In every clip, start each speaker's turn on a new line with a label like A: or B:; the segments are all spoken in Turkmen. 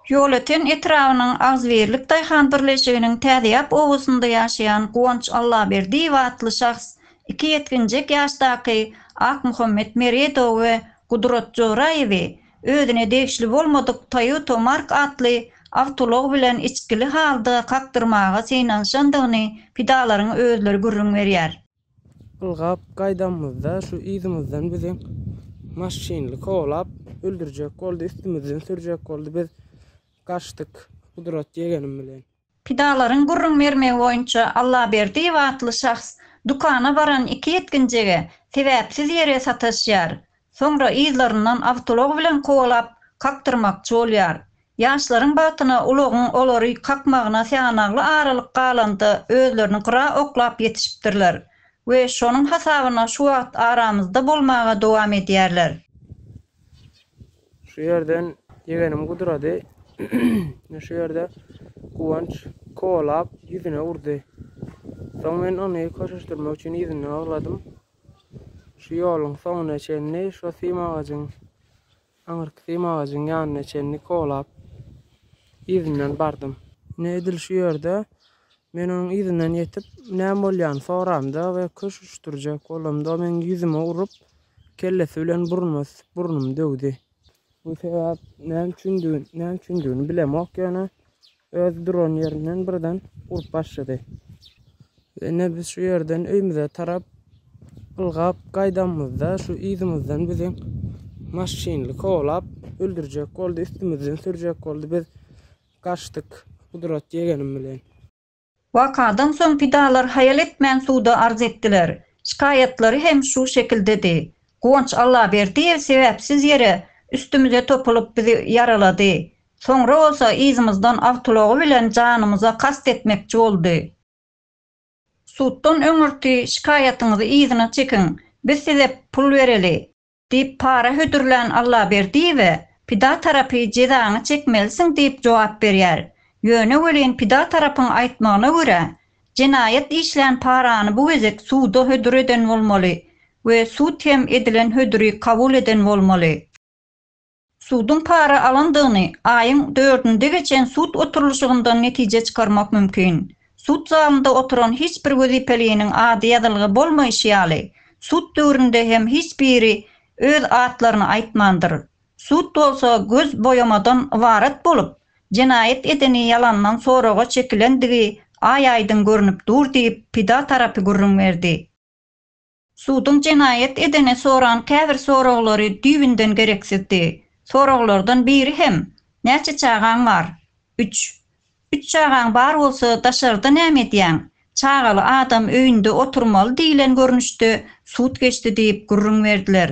A: Ýolöten etrabynyň Agzybirlik daýhan birleşiginiň Täzeýap obasynda ýaşaýan Guwanç Allaberdiýew atly şahs iki ýetginjek ýaşdaky Akmuhammet Meredowy we Gudrat Joraýewi özüne degişli bolmadyk Toyota Mark atly awtoulag bilen içgili halda kakdyrmaga synanyşandygyny pidalaryň özleri gürrüň berýär. Ylgap
B: gaýdanymyzda şu yzymyzdan bizi maşynly kowlap öldürjek boldy, üstümizden sürjek boldy. Biz gaçdyk Gudrat ýegenim bilen. Pidalaryň gürrüň
A: bermegi boýunça Allaberdiýew atly şahs dükana baran iki ýetginjege sebäpsiz ýere sataşýar. Soňra yzlaryndan awtoulag bilen kowalap, kakdyrmakçy bolýar. Ýaşlaryň bagtyna ulagyň olary kakmagyna syýanagly aralyk galanda özlerini gyra oklap ýetişipdirler we şonuň hasabyna şu wagt aramyzda bolmaga dowam edýärler.
B: Şu ýerden ýegenim Gudrady ine şu ýerde Guwanç kowalap ýüzüne urdy. Soň men ony köşeşdirmek üçin yzyndan agladym. Şu ýoluň soňuna çenli şo sim agajyň, aňyrky sim agajyň ýanyna çenli kowlap, yzyndan bardym. Ine, edil şu ýerde men onuň yzyndan ýetip, näme bolýanyny soramda we köş uçdurjak bolamda, o meniň ýüzüme urup, kellesi bilen burnuma sisip, burnumy döwdi. Bu sebäp näme üçindigini, näme üçindigini bilemok ýöne öz duran ýerinden birden urup başlady. Ine biz şu ýerden öýmüze tarap ylgap gaýdanymyzda şu yzymyzdan bizi maşynly kowlap öldürjek boldy, üstümizden sürjek boldy. Biz gaçdyk Gudrat ýegenim bilen. Wakadan
A: soň pidalar haýal etmän suda arz etdiler. Şikaýatlary hem şu şekildedi. Guwanç Allaberdiýew sebäpsiz ýere üstümize topulyp bizi ýaralady. Soňra bolsa yzymyzdan awtoulagy bilen janymyza kast etmekçi boldy. Suddan öňürti şikaýatyňyzy yzyna çekiň, biz size pul bereli. Diýip para hödürlän Allaberdiýewe pida tarapy jezaňy çekmelisiň diýip jogap berýär. Ýöne welin pida tarapyň aýtmagyna görä, jenaýat işlän parany bu gezek suda hödür eden bolmaly we sud hem edilen hödüri kabul eden bolmaly. Suduň para alandygyny aýyň dördünde geçen sud oturylyşygyndan netije çykarmak mümkin. Sud zalynda oturan hiç bir wezipeliniň ady ýazylgy bolmaýşy ýaly, sud döwründe hem hiç biri öz atlaryny aýtmandyr. Sud bolsa göz boýamadan ybarat bolup, jenaýat edeni ýalandan soraga çekilendigi aý-aýdyň görnüp dur diýip, pida tarapy gürrüň berdi. Suduň jenaýat edene soran käbir soraglary düýbünden gereksizdi. Soraglardan biri hem, Näçe çagaň bar? Üç. Üç çagaň bar bolsa, daşarda näme edýäň? Çagaly adam öýünde oturmaly diýlen görnüşde sud geçdi diýip gürrüň berdiler.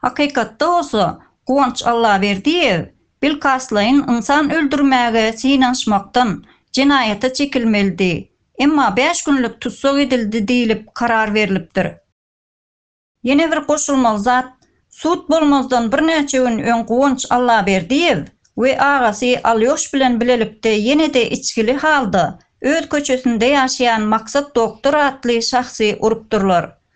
A: Hakykatda bolsa, Guwanç Allaberdiýew bilkastlaýyn ynsan öldürmäge synanyşmakdan jenaýata çekilmelidi, emma bäş günlük tussag edildi diýlip karar berlipdir. Ýene bir goşulmaly zat, sud bolmazdan birnäçe gün öň Guwanç Allaberdiýew we agasy Alýoş bilen bilelikde ýene-de içgili halda öz köçesinde ýaşaýan Maksat Doktor atly şahsy urupdyrlar.